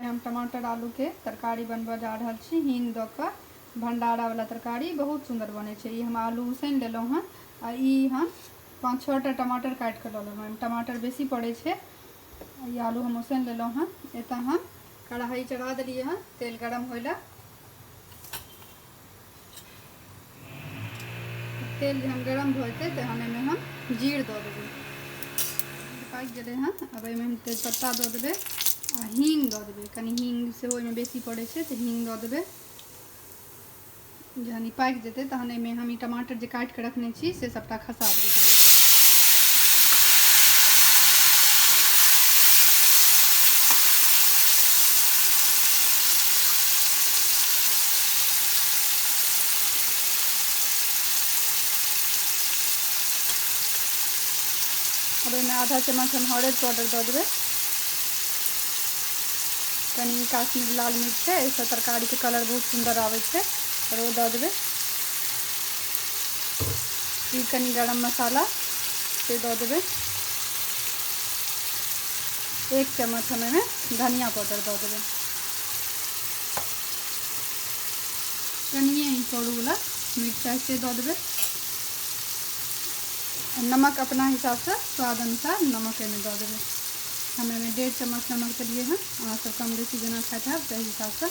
हम टमाटर आलू के तरकारी बनबऽ जा रहल छी हींग दऽ कऽ भंडारा वाला तरकारी बहुत सुंदर बनै छै ई हम आलू उसैन लेलहुँ हन आ ई हम पाँच छओ टा टमाटर काटि कऽ लऽ लेलहुँ एहिमे टमाटर बेसी पड़ै छै आ ई आलू हम उसैन लेलहुँ हन एतऽ हम कढ़ाई चढ़ा देलियै हन तेल गरम होय लए तेल जहन गरम भऽ जेतै तहन एहिमे हम जीर दऽ देबै पाकि गेलै हँ अब एहिमे हम तेजपत्ता दऽ देबै आ हींग दऽ देबै कनि हींग सेहो एहिमे बेसी पड़ै छै तऽ हींग दऽ देबै जहन ई पाकि जेतै तहन एहिमे हम ई टमाटर जे काटि कऽ रखने छी से सभटा अब एहिमे आधा चम्मच हम हरद पाउडर दऽ देबै कनि काश्मीर लाल मिर्च छै एहिसँ तरकारीके कलर बहुत सुन्दर आबै छै आओर ओ दऽ देबै ई कनि गरम मसाला से दऽ देबै एक चम्मच हम एहिमे धनिया पाउडर दऽ देबै कनिए ही करूवला मिरचाइ से दऽ देबै नमक अपना हिसाबसँ स्वाद अनुसार नमक एहिमे दऽ देबै हम एहिमे डेढ़ चम्मच नमक देलिए हँ अहाँसब कम बेसी जेना खाइत हैब ताहि हिसाबसँ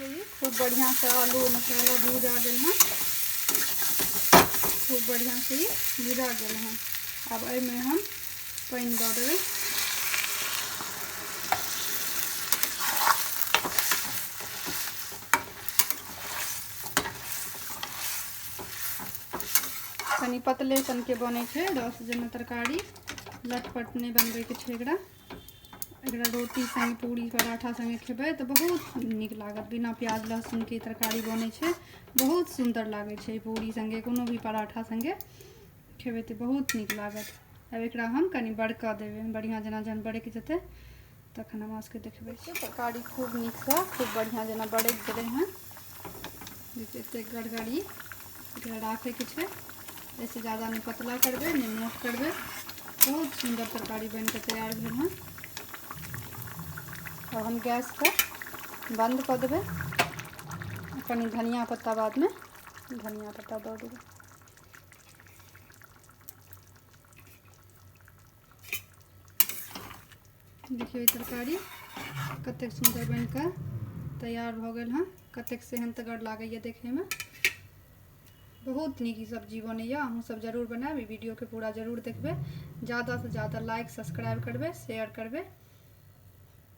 खूब बढ़िया से आलू और मसाला भूज आ गए हैं खूब बढ़िया से ये भुजा गए हैं अब एहिमे हम पानि दऽ देबै कनि पतले सनके बनै छै रस जेना तरकारी लटपट नहि बनबैके छै एकरा एकरा रोटी सङ्गे पूरी पराठा सङ्गे खेबै तऽ बहुत नीक लागत बिना प्याज लहसुनके तरकारी बनै छै बहुत सुन्दर लागै छै पूरी सङ्गे कोनो भी पराठा सङ्गे खेबै तऽ बहुत नीक लागत आब एकरा हम कनि बड़कऽ देबै बढ़िआँ जेना जहन बड़कि जेतै तखन हम अहाँसभके देखबै छी तरकारी खूब नीकसँ खूब बढ़िआँ जेना बरैत गेलै हँ देखियौ एतेक गड़गड़ी एकरा राखैके छै एहिसँ ज्यादा नहि पतला करबै नहि मोट करबै बहुत सुन्दर तरकारी बनि कऽ तैयार भेल हँ आब हम गैसके बन्द कऽ देबै कनि धनिया पत्ता बादमे धनिया पत्ता दऽ देबै देखियौ ई तरकारी कतेक सुन्दर बनि कऽ तैयार भऽ गेल हँ कतेक सेहन्तगर लागैए देखैमे बहुत नीक ई सब्जी बनैए अहूँसभ जरूर बनायब ई वीडियोके पूरा जरूर देखबै ज्यादासँ ज्यादा लाइक सब्सक्राइब करबै शेयर करबै